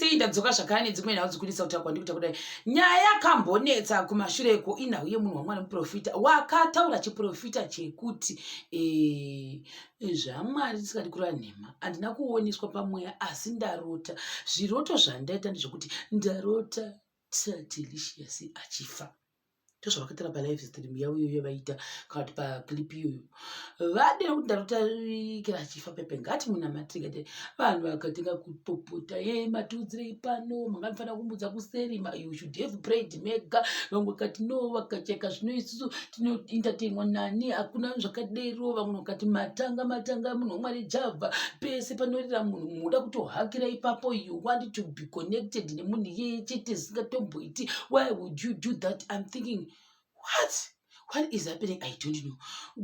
sei ndadzoka zvakare nedzimwe nhau dzikunetsa kutaurwa ndikuta kudai nyaya yakambonetsa kumashure ko inhau yemunhu wamwari muprofita wakataura chiprofita chekuti eh, zvamwari tisikadi kureva nhema handina kuoneswa pamweya asi ndarota zviroto zvandaita ndezvekuti ndarota satelicious achifa ndozvavakataura pa live stream yavo iyoyo vaita kana kuti paclip iyoyo vade kuti ndarotaikira achifa pepe ngati munamatiri ngati vanhu vakatenga kupopota ye matiudzirei pano manga mufanira kumbudza kuseri you should have prayed mega vamwe kati no vakacheka zvino isusu tinoentertainwa nani hakuna zvakadero vamwe vakati matanga matanga munhu wamwari java pese panorira munhu munoda kutohakira ipapo you want to be connected nemunhu iyeye chete zvisingatomboiti why would you do that im thinking what what is happening i don't know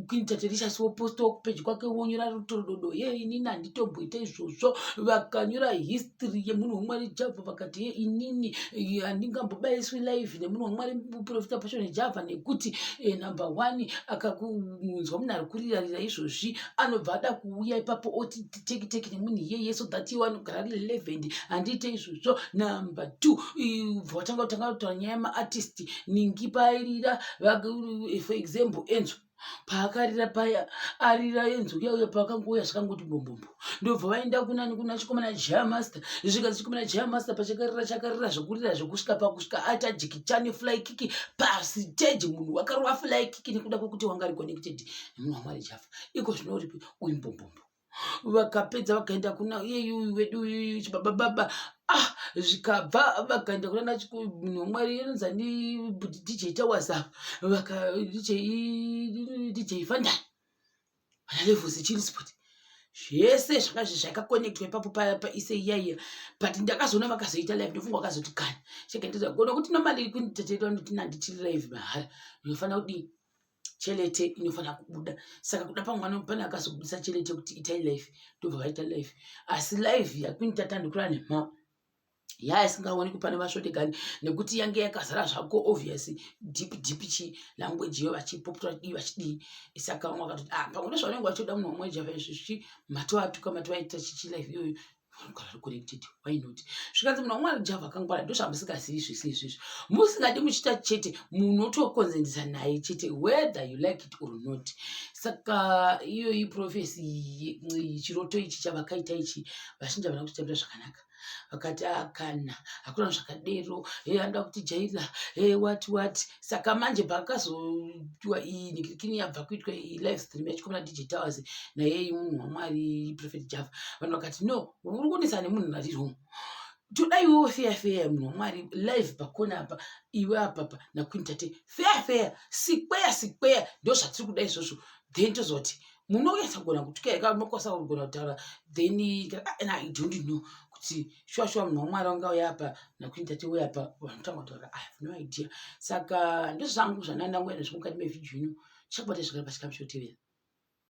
kuitaterishasi woposta wakupeji kwake wonyora rutorododo ye inini handitomboita izvozvo vakanyora history yemunhu wamwari java vakati ye inini eh, handingambobayiswi live nemunhu wamwari profita pashone java nekuti eh, number one akakunzwa munhu ari kurirarira izvozvi anobva ada kuuya ipapo oti teki teki nemunhu iyeye so that iwe anogara ari relevant handiite izvozvo number two bva watanga kutanga kutaura nyaya yemaartist ningi paairira for example enzo paakarira paya arira enzo kuya uya paakangouya zvakangoti bombombo ndobva vaenda kunani kuna chikomana jaya master zvikanzi chikomana jaya master pachakarira chakarira zvekurira zvekusvika pakusvika aita jikichani fly kiki pasiteji munhu wakarova fly kiki nekuda kwekuti wanga ari connected nemuna mwari jafa iko zvinouripi uyu mbombombo vakapedza vakaenda kuna iyeyuyu vedu uyuyu chibaba baba ah zvikabva vakaenda kuna nachimunhu wamwari anonzi ani dj tawaza vaka dj dj fandai ana levels chilsport zvese zvakazvi zvakakonectwa ipapo paise iyaiya but ndakazoona vakazoita live ndofunga vakazoti kani chekendeza gona kuti nomali kunditeteta ndotina ndichiri live mahara ndinofanira kudii chelete inofanira kubuda saka kuda pamwana pane akazobudisa chelete kuti itai life ndobva vaita life asi life yakuinita tandikura nemha yaa isingaonekwi pane vasvotekani nekuti yange yakazara zvako obvious deep deep chi language iyo vachipopota vachidii vachidii saka vamwe vakatoti ah pamwe ndozvavanenge vachitoda munhu wamwe java izvi zvichi matoatuka matovaita chichi life iyoyo vanogara vari connected why not zvikanzi munhu wamwari java akangwara ndozvamusingazivi zvese izvizvi musingadi muchiita chete munhu otokonzendisa naye chete whether you like it or not saka iyoyi profesi chiroto ichi chavakaita ichi vazhinji havana kutitambira zvakanaka vakati akana ah, hakuna zvakadero e anoda kutijaira e eh, wati wati saka manje pakazoitwa iyi nikikini yabva kuitwa iyi live stream yachikomana dj towers nayei munhu wamwari prophet java vanhu vakati no uri kuonesa nemunhu ari wrong todai wewo feya feya munhu wamwari live pakona apa iwe apapa nakuintate feya feya sikweya sikweya ndo zvatiri kuda izvozvo then tozoti munonyatsa kugona kutuka eka unokwanisa kugona kutaura then kana i don't know kuti shuwa shuwa munhu wamwari wanga uya apa nakuini tate uya apa vanotanga kutaura i have no idea saka ndozvangu zvandandangoenda zvimukati mevhidyo ino chakubata zvakari pachikamu chotevera